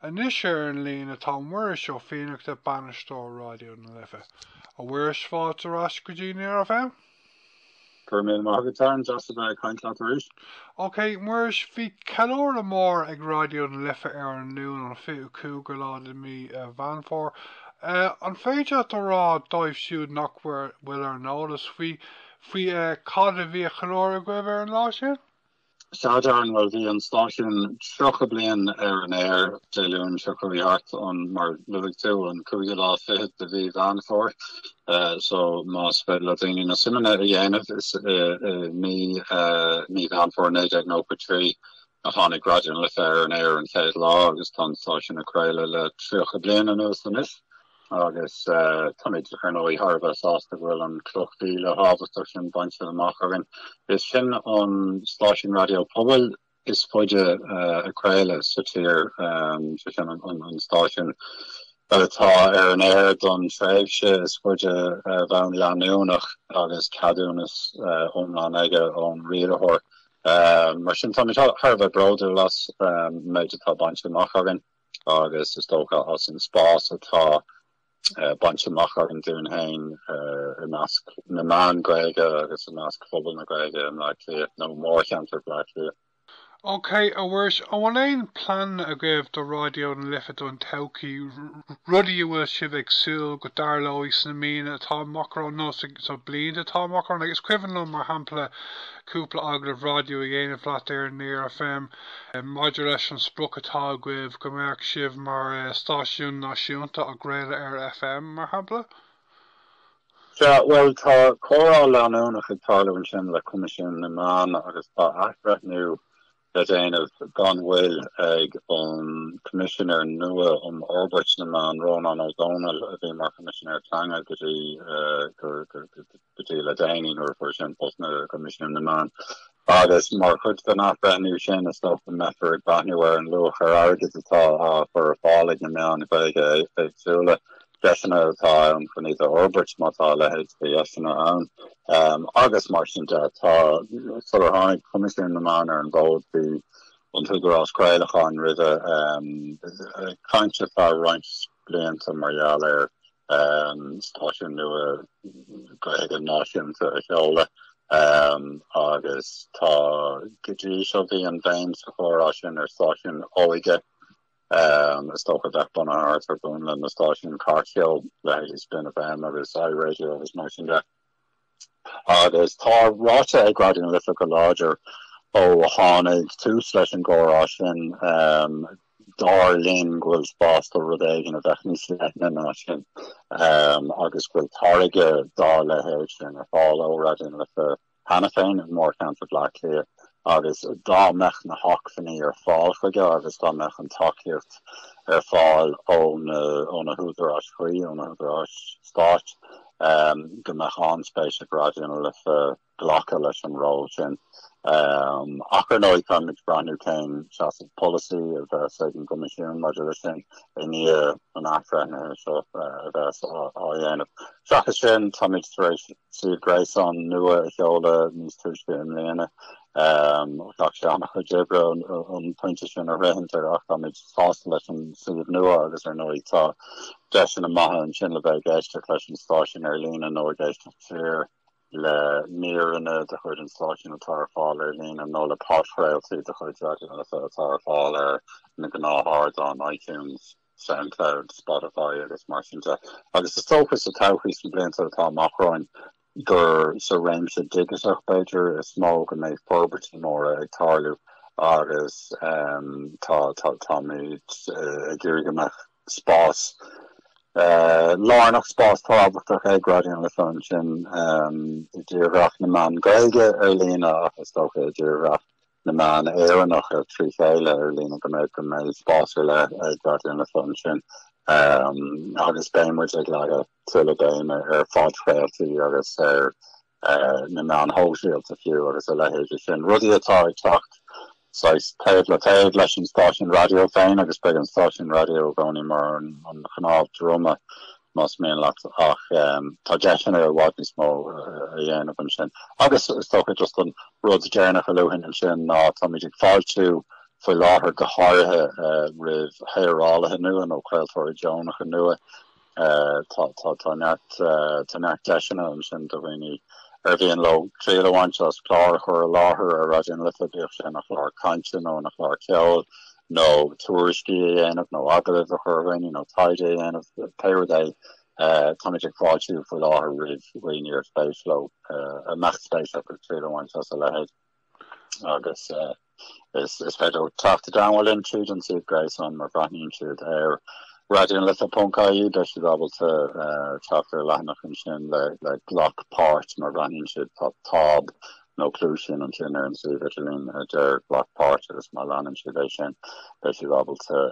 Anois ar an líne tá Muiris Ó Fiannachta, Bainisteoir Raidió na Life. A Mhuiris, fáilte ar ais go dtí Near FM. Go raibh míle maith agat, Darren, deas a bheith ag caint leat arís. Ok, Muiris, bhí ceiliúradh mór ag Raidió na Life ar an Luan an fiche cúigiú lá de mhí Mheán Fómhair. An féidir leat a rá, dóibh siúd nach bhfuil ar an eolas faoi, faoi cad a bhí á cheiliúradh agaibh ar an lá sin? Sea Darren, bhuel bhí an stáisiún 30 bliain ar an aer, Dé Luain seo a chuaigh thart, an, mar luaigh tú, an cúigiú lá fichead de mhí Mheán Fómhair, so más féidir le daoine na suimeanna a dhéanamh, is i mí, mí Mheán Fómhair 1993 a tháinig Raidió na Life ar an aer an chéad lá agus tá an stáisiún ag craoladh le 30 bliain anuas anois. Agus táimid, ar ndóigh, thar a bheith sásta go bhfuil an chloch mhíle thábhachtach sin bainte amach againn. Is sinn an stáisiún raidió pobail is faide ag craoladh sa tír, sé sin an stáisiún atá ar an aer don tréimhse is faide ar bhonn leanúnach agus ceadúnas iomlán aige ón rialtóir. Mar sin táimid thar a bheith bródúil as an méid atá bainte amach againn. agus is dócha as an spás atá bainte amach againn dúinn féin i measc na meán Gaeilge agus i measc phobal na Gaeilge i mBleá Cliath nó mórcheantar Bhleá Cliath. OK, a Mhuiris, an bhfuil aon pleananna agaibh do Raidió na Life don todhchaí, rudaí a bhfuil sibh ag súil go dtarlóidh sna míonna atá amach romhainn nó sna blianta atá amach romhainn? Is cuimhin liom, mar shampla, cúpla agallamh raidió a dhéanamh leat ar Near FM. maidir leis an sprioc atá agaibh go mbeadh sibh mar stáisiún náisiúnta ag craoladh ar FM, mar shampla? Sea, bhuel, tá comhrá leanúnach ag tarlú ansin le Coimisiún na Meán agus tá athbhreithniú le déanamh gan mhoill ag an gCoimisinéir nua um Fhorbairt na Meán, Rónán Ó Domhnaill, a bhí mar Choimisinéir Teanga go dtí. go dtí le déanaí nuair a fuair sé an post nua i gCoimisiún na Meán. Agus mar chuid den athbhreithniú sin is dócha go mbeifear ag breathnú ar an luach ar airgead atá á chur ar fáil ag na meáin Ghaeilge éagsúla. Deiseanna atá ann chun iad a fhorbairt má tá a leithéid de dheiseanna ann. Agus mar sin de tá sular tháinig Coimisiún na Meán ar an bhfód bhí an tÚdarás Craolacháin roimhe ag caint ar feadh roinnt blianta mar gheall ar. stáisiún nua Gaeilge náisiúnta a sheoladh agus tá go dtí seo bhí an bhéim sa chomhrá sin ar stáisiún óige is dócha a bheadh bunaithe thart ar mhúnla na stáisiún cairtcheoil leithéidí Spin FM agus iRadio agus mar sin de. Agus tá ráite ag Raidió na Life go láidir ó tháinig tús leis an gcomhrá sin, dar linn go bhfuil spás do rud éigin a bheadh níos leithne ná sin agus go bhfuil táirge dá leithéid sin ar fáil ó Raidió na Life cheana féin i mórcheantar Bhleá Cliath. Agus dá mbeadh na hacmhainní ar fáil chuige agus dá mbeadh an tacaíocht ar fáil ó na húdaráis chuí, ó na húdaráis stáit, go mbeadh an-spéis ag Raidió na Life glacadh leis an ról sin. Ach ar ndóigh, táimid ag breathnú cén seasamh polasaí a bheas ag an gCoimisiún maidir leis sin i ndiaidh an athbhreithnithe seo a bheas á dhéanamh. Seachas sin, táimid tar éis suíomh gréasáin nua a sheoladh níos túisce i mbliana. Ghlac sé an-chuid oibre an pointe sin a shroichint ach táimid sásta leis an suíomh nua agus ar ndóigh tá deiseanna maithe ansin le bheith ag éisteacht leis an stáisiún ar líne nó ag éisteacht siar le míreanna de chuid an stáisiúin atá ar fáil ar líne nó le podchraoltaí de chuid Raidió na Life atá ar fáil ar na gnáthárdáin iTunes. Soundcloud, Spotify agus mar sin de, agus is dócha sa todhchaí, sna blianta atá amach romhainn, gur sa réimse digiteach, b'fhéidir, is mó go mbeidh forbairtí móra ag tarlú agus táimid ag iarraidh go mbeadh spás lárnach, spás tábhachtach ag Raidió na Life ansin i dtírdhreach na meán Gaeilge ar líne ach is dócha i dtírdhreach. na meán Éireannach trí chéile ar líne go mbeidh go mbeidh spás ar leith ag Raidió na Life ansin agus beidh muid ag leagan tuilleadh béime ar phodchraoltaí agus ar na meáin shóisialta fiú agus a leithéidí sin, rudaí atá ag teacht saghas taobh le taobh leis an stáisiún raidió féin agus beidh an stáisiún raidió i gcónaí mar an chnámh droma Más mian leat, ach tá deiseanna i bhfad níos mó a dhéanamh ansin. Agus is dócha, just an rud deireanach a luafainn ansin ná táimid ag fáiltiú faoi láthair go háirithe roimh shaorálaithe nua nó craoltóirí deonacha nua. Tá neart deiseanna ansin do dhaoine ar mhian leo triail a bhaint as clár a chur i láthair ar Raidió na Life, bíodh sé ina chlár cainte nó ina chlár ceoil. nó tuairiscí a dhéanamh nó agallaimh a chur ar dhaoine nó taighde a dhéanamh, pé rud é, táimid ag fáiltiú faoi láthair roimh dhaoine ar spéis leo a mbeadh spéis acu triail a bhaint as a leithéid agus is féidir leo teacht i dteagmháil linn tríd an suíomh gréasáin má bhreathnaíonn siad ar raidió na life ponc ie beidh siad ábalta teacht ar leathanach ansin le glac páirt má bhreathnaíonn siad tá táb nó cluaisín ansin ar an suíomh idirlín a deir glac páirt agus má leanann siad é sin, beidh siad ábalta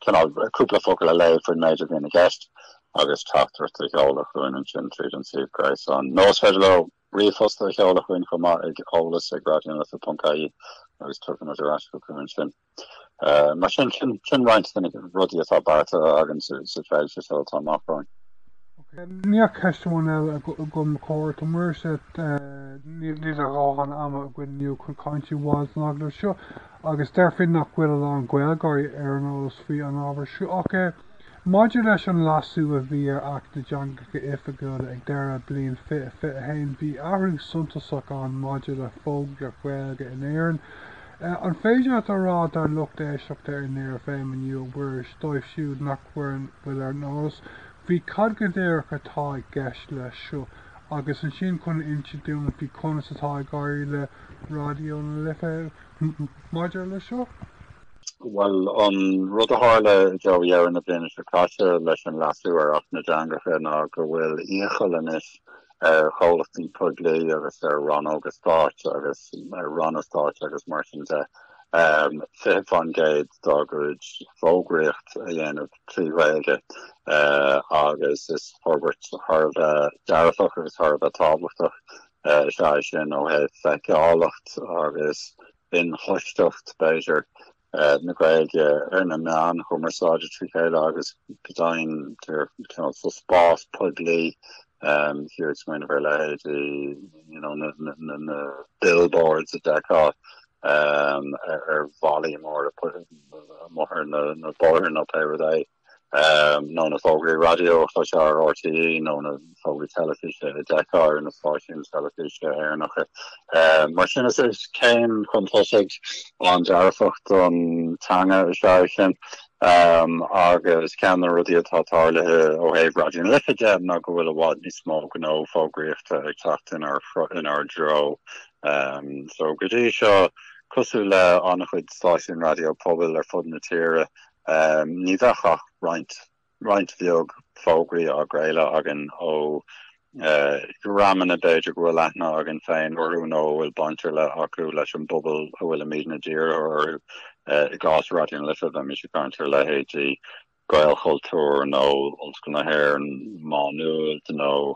cineál cúpla focal a léamh faoin méid a bhíonn i gceist agus teachtaireacht a sheoladh chugainn ansin tríd an suíomh gréasáin. Nó is féidir leo ríomhphost a sheoladh chugainn chomh maith ag eolas ag raidionalife.ie agus tiocfaidh muid ar ais chucu ansin. Mar sin, sin roinnt de na rudaí atá beartaithe againn sa tréimhse seo atá amach romhainn. Níl ach ceist amháin eile agam, a chur ort, a Mhuiris, níl a dhóthain ama againn inniu chun ceann a bhaint den agallamh seo agus déarfainn nach bhfuil a lán Gaeilgeoirí ar an eolas faoi an ábhar seo ach. Maidir leis an leasú a bhí ar Acht na dTeangacha Oifigiúla ag deireadh bliain 2021, bhí athrú suntasach ann maidir le fógraíocht Ghaeilge in Éirinn, An féidir leat a rá dár lucht éisteachta ar Near FM inniu a Mhuiris, dóibh siúd nach bhfuil ar an eolas faoi cad go díreach atá i gceist leis seo, agus ansin chun insint dúinn faoi conas atá ag éirí le Raidió na Life maidir leis seo? Bhuel, an rud a tharla i dtreo dheireadh na bliana seo caite leis an leasú ar Acht na dTeangacha ná go bhfuil iachall anois ar chomhlachtaí poiblí agus ar rannóga stáit agus ar ranna stáit agus mar sin de, 20% dá gcuid fógraíocht a dhéanamh trí Ghaeilge agus is forbairt thar a bheith dearfach agus thar a bheith tábhachtach is ea é sin ó thaobh feiceálacht agus inchloisteacht b'fhéidir. na Gaeilge ar na meáin chumarsáide trí chéile agus go deimhin cineál sa spás poiblí Táthar ag smaoineamh ar leithéid you know na na billboards a d'fheicfeá ar bhallaí móra amuigh ar na bóithre nó pé rud é. nó na fógraí raidió a chloisfeá ar RTÉ nó na fógraí teilifíse a d'fheicfeá ar na stáisiúin teilifíse Éireannacha. Mar sin is céim chun tosaigh an-dearfach don teanga is ea é sin, agus ceann de na rudaí atá tarlaithe ó thaobh Raidió na Life de ná go bhfuil i bhfad níos mó gnó fógraíochta ag teacht inár dtreo. Só go dtí seo, cosúil le an-chuid stáisiún raidió pobail ar fud na tíre, Ní bheadh ach roinnt, roinnt bheag fógraí á gcraoladh againn ó dhreamanna b'fhéidir go bhfuil aithne againn féin orthu nó a bhfuil baint ar leith acu leis an bpobal a bhfuilimidne dírithe orthu. I gcás Raidió na Life bheimis ag caint ar leithéidí Gaelchultúr nó Ollscoil na hÉireann, Má Nuad nó.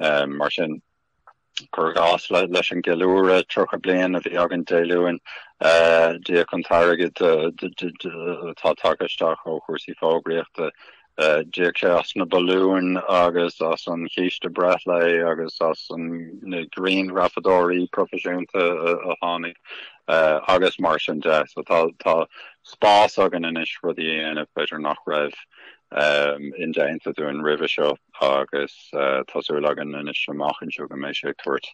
Mar sin, cuir i gcás, leis an gceiliúradh 30 bliain a bhí againn Dé Luain, d'íoc an t-airgead atá tagtha isteach ó chúrsaí fógraíochta, d'íoc sé as na balúin agus as an gcíste breithlae agus as na grianghrafadóirí proifisiúnta a tháinig agus mar sin de. So tá spás againn anois rudaí a dhéanamh b'fhéidir nach raibh indéanta dúinn roimhe seo agus tá súil againn anois amach anseo go mbeidh sé ag tabhairt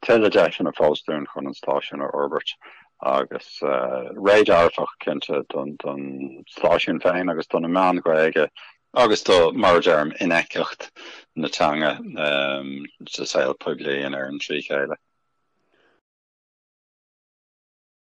tuilleadh deiseanna fós dúinn chun an stáisiún a fhorbairt agus ré dearfach cinnte don stáisiún féin agus do na meáin Ghaeilge agus do, mar a deirim, infheictheacht na teanga sa saol poiblí in Éirinn trí chéile.